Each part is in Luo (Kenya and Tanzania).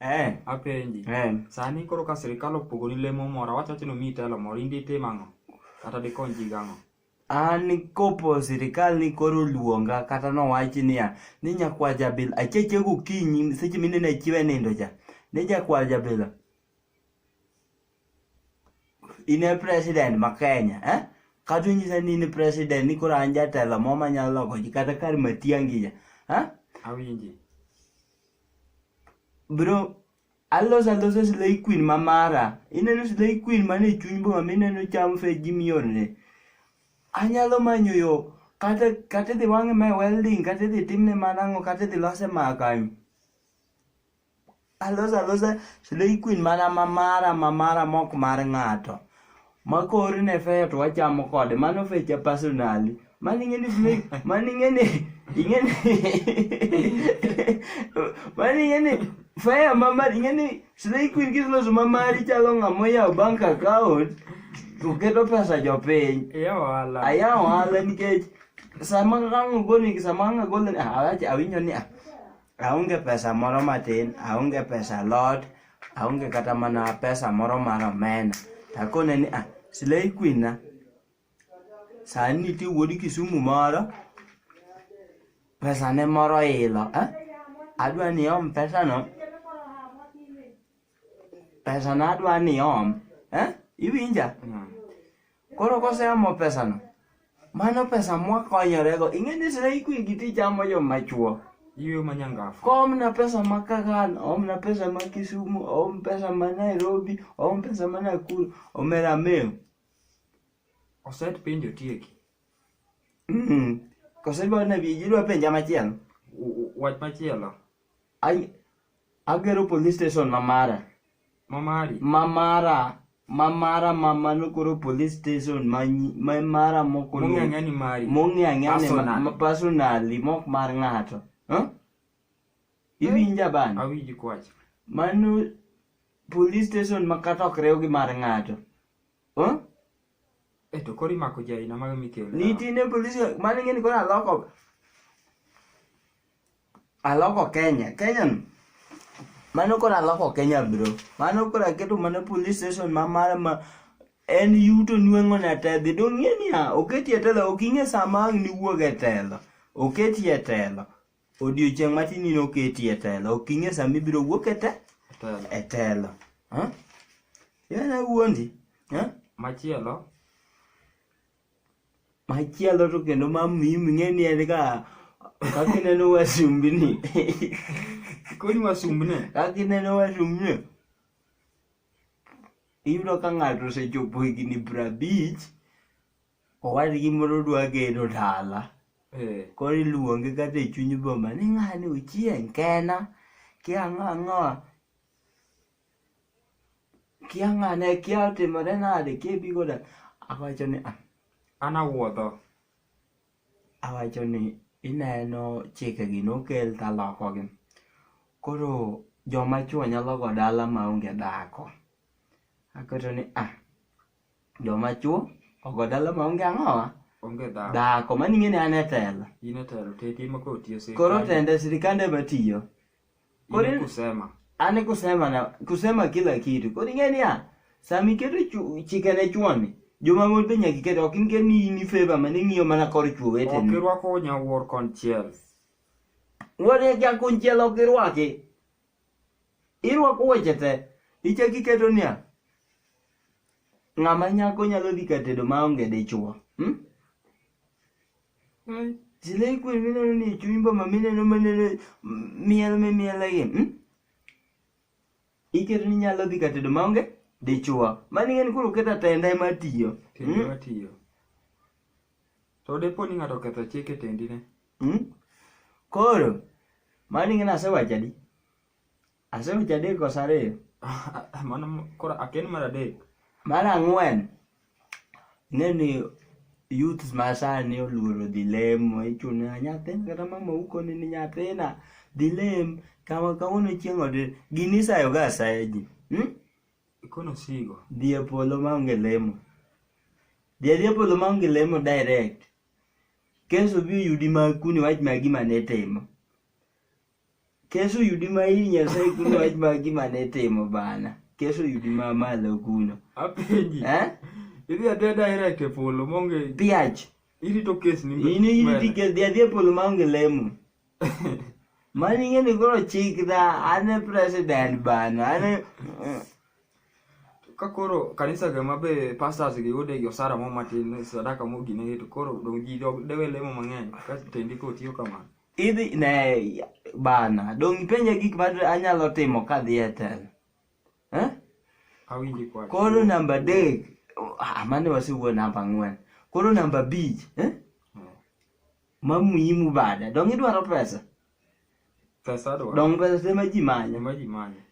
Eh, apenji eh. sani koro ka sirikal opogoni lemo moro awacho wacho ni omiyi telo moro in ditim ang'o kata dikony ji gang'o an kopo sirikal ni koro luonga kata nowachi niya ni nyakwa jabila acheche gokinyi seche minene chiwe nindo cha ni jakwa jabila in e president ma Kenya eh? kata inyisa ni in president ni koro an jatelo mo manyalo loko ji kata kar matiangi ja eh? awinji bro alos aloso slay queen ma mara ineno slay queen man e chuny boma mineno cham fe ji miorne anyalo manyo yo kata kata idhi wang'e mae welding kata idhi timne mana ang'o kata idhi lose maa kanyo Aloso alosa slay queen mana mamara mamara mok mar ng'ato. Makori ne feyo to wachamo kode. Mano fecha personally. Mano ing'e ni slay, mano ing'e ni, ing'e ni, mano ing'e ni feyo mamari, ing'e ni slay queen kisloso mamari chalo ng'ama oyawo bank account to keto pesa jopiny. Iya wala. Aya ohala nikech sama ang' ogolni sama ang' agolni ah, awacho awinjo ni ah, Aonge pesa moro matin, aonge pesa lot, aonge kata mana pesa moro mar omena. Takone ni ah, Slay Queen na, sani nitie wuod Kisumu moro, pesane moro ilo. Eh? Adwa ni om pesano, pesana adwa ni om. Eh? Iwinja? Koro koseamo pesano, mano pesa mwakonyorego. Ing'e ni sira ikwi gi tich amo yo machuo. Iwe manyangafu. Kom na pesa ma Kagan, om na pesa ma Kisumu, om pesa ma Nairobi, om pesa ma Nakuru, omera meu. Oset penjo tieki. Mm. Kosedwa na bi jidwa penja machielo. Wach machielo. Ai Agero police station ma mara. Ma mari. Ma mara. Ma mara ma mano koro police station ma ma mara moko no. Mong'ang'a ni mari. Mong'ang'a ni personally. ma personally mok mar ng'ato. Huh? Iwinja bana. Awinji kwach. Mano police station ma kata ok rew gi mar ng'ato. Huh? Eto kori mako jaina ma mikelo. Nitine police mani ng'eni koro aloko. aloko kenya kenya no mano koro aloko kenya bro mano koro aketo mana police station ma mara ma en yuto nweng'o na tedhi dong'e niya oketi e telo ok ing'e sama ang' niwuog e telo oketi e telo odiochieng' matin in oketi e telo ok ing'e sama ibiro wuok e te Telo. e telo Huh? Iwena wuondi Huh? machielo Machielo to kendo ma mimi ng'e ni en ka kaka ineno wasumbni. Koni wasumbne. Kaka ineno wasumbni. Iyudo ka ng'ato osechopo higni prabich, owadgi moro dwa gero dala. Eh. Koro iluonge kata e chuny boma ni ng'ani ochieng' kena, kia ang'o ang'o. kiang'ane kiatimore nade kiebigo da awacho ni "Ah, an awuodho awacho ni ineno chikegi nokel talokogi koro joma chwo nyalo go dala maonge dhako aketo ni ah joma chwo ogo dala maonge ang'owa onge dhako dhako maning'e ni an e telo in e telo tete ema koro tiyo sirkal koro tende sirikande matiyo Kore kusema. Ani kusema na kusema kila kitu. Kore ngeni ya sami ketu chu, chikene chuani. Joma mon pe nyaki ketu okin ke ni ni favor mane ngiyo mana kor chuwe ten. Okirwa ko nya war kon chiel. Wore kya kon chiel okirwa ke. Irwa ko wechete. Iche kiketo niya. Ng'ama nyako nyalo dhi katedo maonge dichwo. Hmm? Hmm? Zile iko mineno ni chuimbo ma mineno maneno mm, miel me miel gi. Hmm? Iketo ni nyalo dhi ka tedo maonge dichwa. Mani ng'en koro keto atenda ema tiyo. Tendi Hmm? matiyo. To depo ni ng'ato oketho chik e tendi ne. Hmm? Koro mani ng'en asewacho adi? Aseweche adek koso ariyo? Mano koro aken mar adek. Mar ang'wen, ing'e ni youths ma sani oluoro dhi lemo, ichune "Ah, nyathina kata mama ukoni ni nyathina dhi lem, kama kawuono chieng' odhi. Gini isayoga asaya ji. Hmm? Ikono sigo. Dhi e polo maonge lemo. Dhi adhi e polo maonge lemo direct. Keso bi oyudi ma kuni wach ma gima ne timo. Keso yudi ma hii nyasaye kuno wach ma gima ne timo bana. Keso yudi ma malo kuno. Apenji. Eh? Idhi adhiya daira e polo monge. Piach. Irito kes ni. Ini iriti kes dhi adhiya e polo maonge lemo. Mani ing'e ni koro chik dha an e president bana. An e... Ka koro kanisa ga mabe pastors gi yude gi osara mo matin sadaka mo gine to koro dong ji dewe lemo mang'eny ka tendi ko tiyo kamano. idhi ne bana dong' ipenja gik ma anyalo timo ka dhi e telo eh? awinji kwach koro namba adek ah, mane wasewuo namba ang'wen koro namba abich eh? Hmm. ma muhimu bada dong' idwaro pesa pesa adwaro dong' pesa ema ji manyo ema ji manyo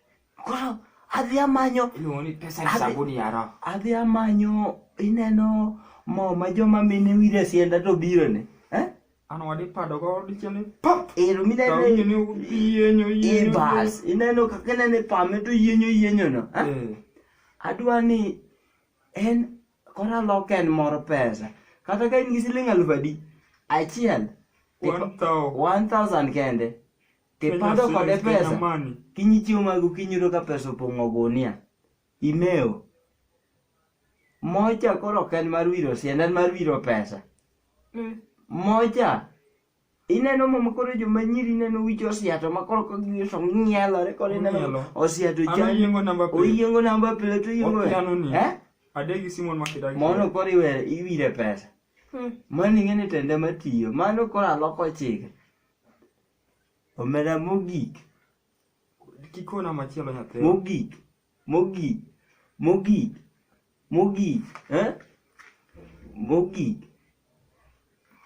Koro adhi amanyo iluongo ni pesa ni sabuni ya roho. Adhi amanyo ineno mo ma joma mine wire sienda to biro ne. Eh? Ano wadi pado go diche ni pop. Ero mi nene yienyo yienyo. Ibas ineno kaka nene pame to yienyo yienyo no. Eh? eh. Adwa ni en kora lok en mor pesa. Kata ka in gi siling' aluf adi achiel. 1000 kende. Kipando kod e pesa. Kinyi chiemo mag okinyi yudo ka pesa opong'o gunia. Imeo. Mocha koro ok en mar wiro sienda en mar wiro pesa. Mm. Mocha. Ineno mama koro joma nyiri ineno wicho osiato ma koro ka giwiso ng'ielore koro ineno osiato chan. Oyiengo namba plate. Oyiengo namba plate oyiengo. Eh? Adegi Simon Makidagi. Mono koro iwere iwire pesa. Hmm. Mano ing'e ni tende matiyo. Mano koro aloko chike. Omera mogik. Kikona machielo nyathina. Mogik. Mogik. Mogik. Mogik. Eh? Mogik.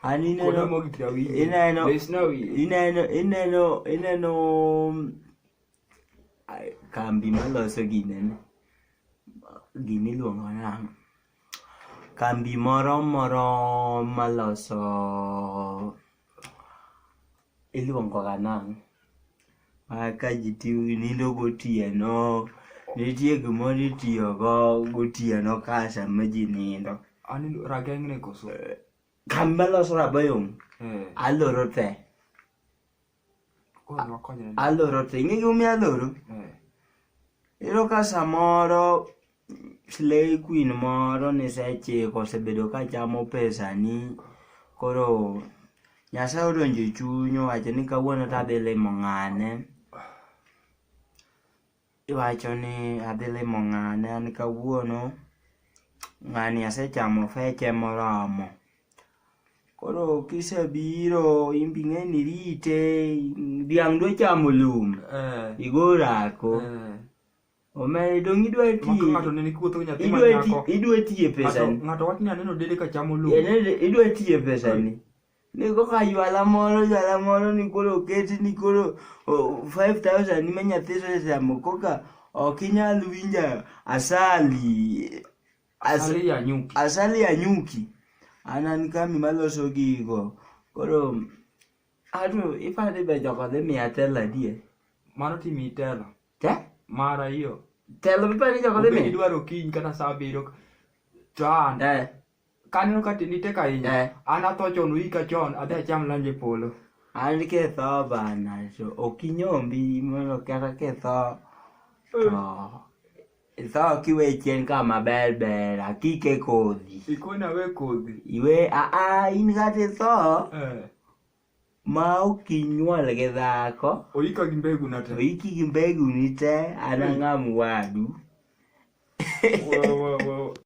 An ineno Kona mogik na winji. Ineno. Be sina wiye. Ineno ineno ineno mm, ai, kambi maloso gine ni. Gini iluongo nang'o? kambi moro moro maloso iluongo ga nang' ka ji nindo gotieno nitie gimoro itiyogo gotieno ka sama ji nindo kambi maloso rabayom eh. aloro te aloro to ing'e gimomiyo aloro eh. iyudo ka samoro slay queen moro nisechiko osebedo ka chamo pesani koro nyasaye odonjo e chuny owacho ni kawuono tadhi limo ng'ane Iwacho ni adhi limo ng'ane an kawuono, ng'ani asechamo feche moromo. Koro kisebiro in be ing'eni irite, dhiang' dwa chamo lum, Eh, igo orako. eh. Omera dong' idwa Maka tiye, ng'ato nene kuotho gi nyathi ma idwa ti- nyako. idwa tiye Ng'ato pesani. ng'ato wachni aneno dede ka chamo lum. Idwa tiye pesani. ni koka jwala moro jwala moro ni koro oketi ni koro oh, 5000 ni menya thiso sesamo koka ok inyal winja asali as, Asali ya nyuki. asali ya nyuki anan kami maloso gigo koro atu ifadhi be jogo dhi miya telo adier Mano timi itelo. te Mara hiyo. telo bipani jogo dhi Obedi miya dwaro kiny kata saa abiriyo. To an. Eh, kaneno ka tindi tek ahinya Eh. an atho chon uika chon adhi acham lanj e polo an ketho bana to ok inyombi mondo kata ketho to itho kiwe chien ka maber ber akike kodhi ikona we kodhi iwe aa in kata itho Eh, ma ok inyuol gi dhako oika gi mbegu na to te iki gi mbeguni te an ang'am wadu Wo- wo- wo-